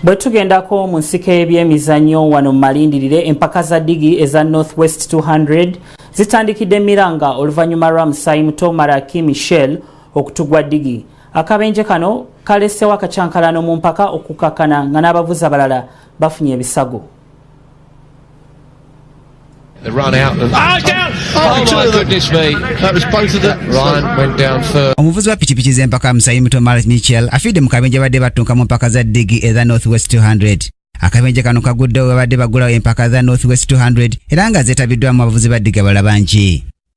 bwe tugendako mu nsika ebyemizannyo wano mu malindirire empaka za digi eza north west 200 zitandikidde miranga oluvannyuma lwa musaayi muto maraki michel okutugwa digi akabenje kano kalesewo akakyankalano mu mpaka okukakkana nga n'abavuzi abalala bafunye ebisago The run out of... Oh, down! Oh, oh my goodness me. That was both of them. Ryan went down first. Omuvuzi wa pikipiki z'empaka Musayi Muto Marat Michel afidde mu kabenja badde battunka mu mpaka za ddigi eza North West 200. Akabenja kano kaguddewo bwe badde bagulawo empaka za North West 200 era nga zeetabiddwamu abavuzi ba ddiga bala bangi.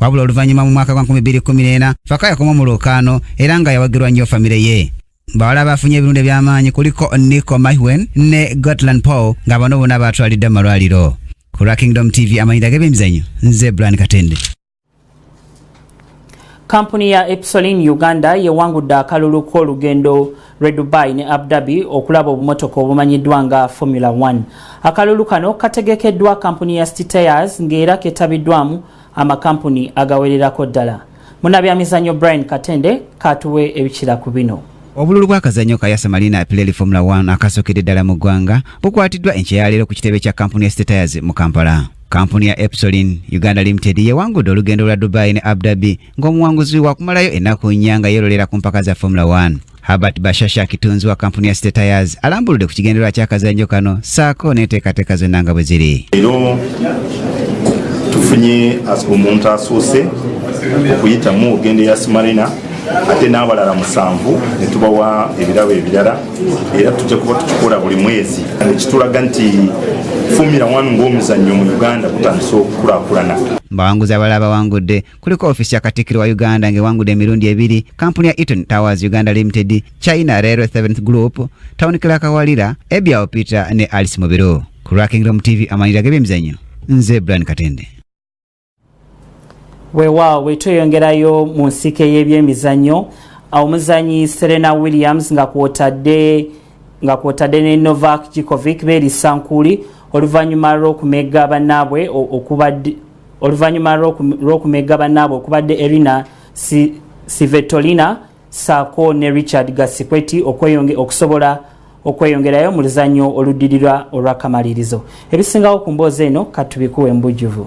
wabula oluvannyuma mu mwaka gwa 2014 faka yakoma mu lwokaano era nga yawagirwa nnyo famire ye bawala abafunye ebirundu eby'amaanyi kuliko nico mahwen ne gotland paul nga bano bona baatwalidde mu malwaliro ku lwa kingdom tv amanyira g'ebyemizanyo nze bran katende kampuni ya epsolin uganda yewangudde akalulu k'olugendo lwe dubai ne abdabi okulaba obumotoka obumanyiddwa nga formula 1 akalulu kano kategekeddwa kampuni ya stitayers ng'era ketabiddwamu amakampuni agawererako ddala munabyamizanyo brian katende katuwe ebikira ku bino obululu bw'akazannyo ka yasa marina apileli formula 1 akasookedde ddala mu ggwanga bukwatiddwa enkya ya leero ku kitebe kya kampuni ya statires mu kampala kampuni ya epsolin uganda limited yewangudde olugendo lwa dubai ne abdabi ng'omuwanguzi wakumalayo ennaku nnya nga yeerolera ku mpaka za formula 1 Herbert Bashasha kitunzi wa kampuni ya State Tires alambuludde ku kigendererwa ky'akazanjo kano saako n'enteekateeka zonna nga bwe ziri leero tufunye as- omuntu asoose okuyitamu ogenda eya simarina ate n'abalala musanvu ne tubawa ebirabo ebirala era tujja kuba tukikola buli mwezi ekitulaga nti fumira wanu ng'omuzannyo mu uganda gutandise okukulakulana mu bawanguzi abalala bawangudde kuliko ofisi ya katikiro wa uganda ng'ewangudde emirundi ebiri kampuni ya eton towers uganda limited china railway seventh group town clerk walira ebyao peter ne alice mubiru ku rakingrom tv amanyira g'ebyemizanyo nze brian katende weewaawo wetweyongerayo mu nsike y'ebyemizannyo omuzanyi serena williams nga kwotadde nga kwotadde ne novak jikovic beerisankuli oluvannyuma lw'okumegga bannaabwe okubadde oluvannyuma lw'okumegga bannaabwe okubadde erina sivetolina saako ne richard gasikweti okusobola okweyongerayo mu luzannyo oluddirira olwakamalirizo ebisingawo ku mboozi eno katubikuwa embujjuvu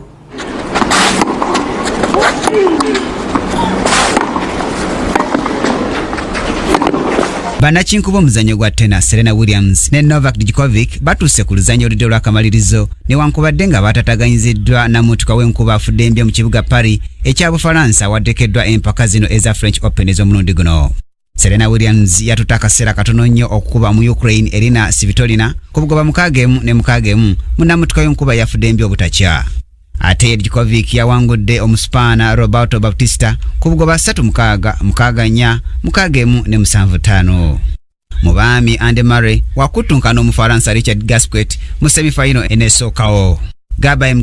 bannakinku b'omuzannyo gwa tena serena williams ne novak djkovic batuuse ku luzannyo oludde olwakamalirizo newankubadde nga baatataganyiziddwa na mutuka w'enkuba afudde mbya mu kibuga paris ekya bufalansa awaddekeddwa empaka zino eza french open ez'omulundi guno serena williams yatutte akaseera katono nnyo okukuba mu ukraine erina sivitolina ku bugoba mukaaga emu ne mukaaga emu munnamutuka w'enkuba yafudde mbya obutakya ate djkovic yawangudde omusipaana roberto baptista ku bugoba 3 mukaaga mukaaga nnya mukaaga emu ne musanvu ttaano mu baami Andy Murray wakuttunkana Omufaransa Richard Gasquet mu semi fayino eneesookawo. Gaba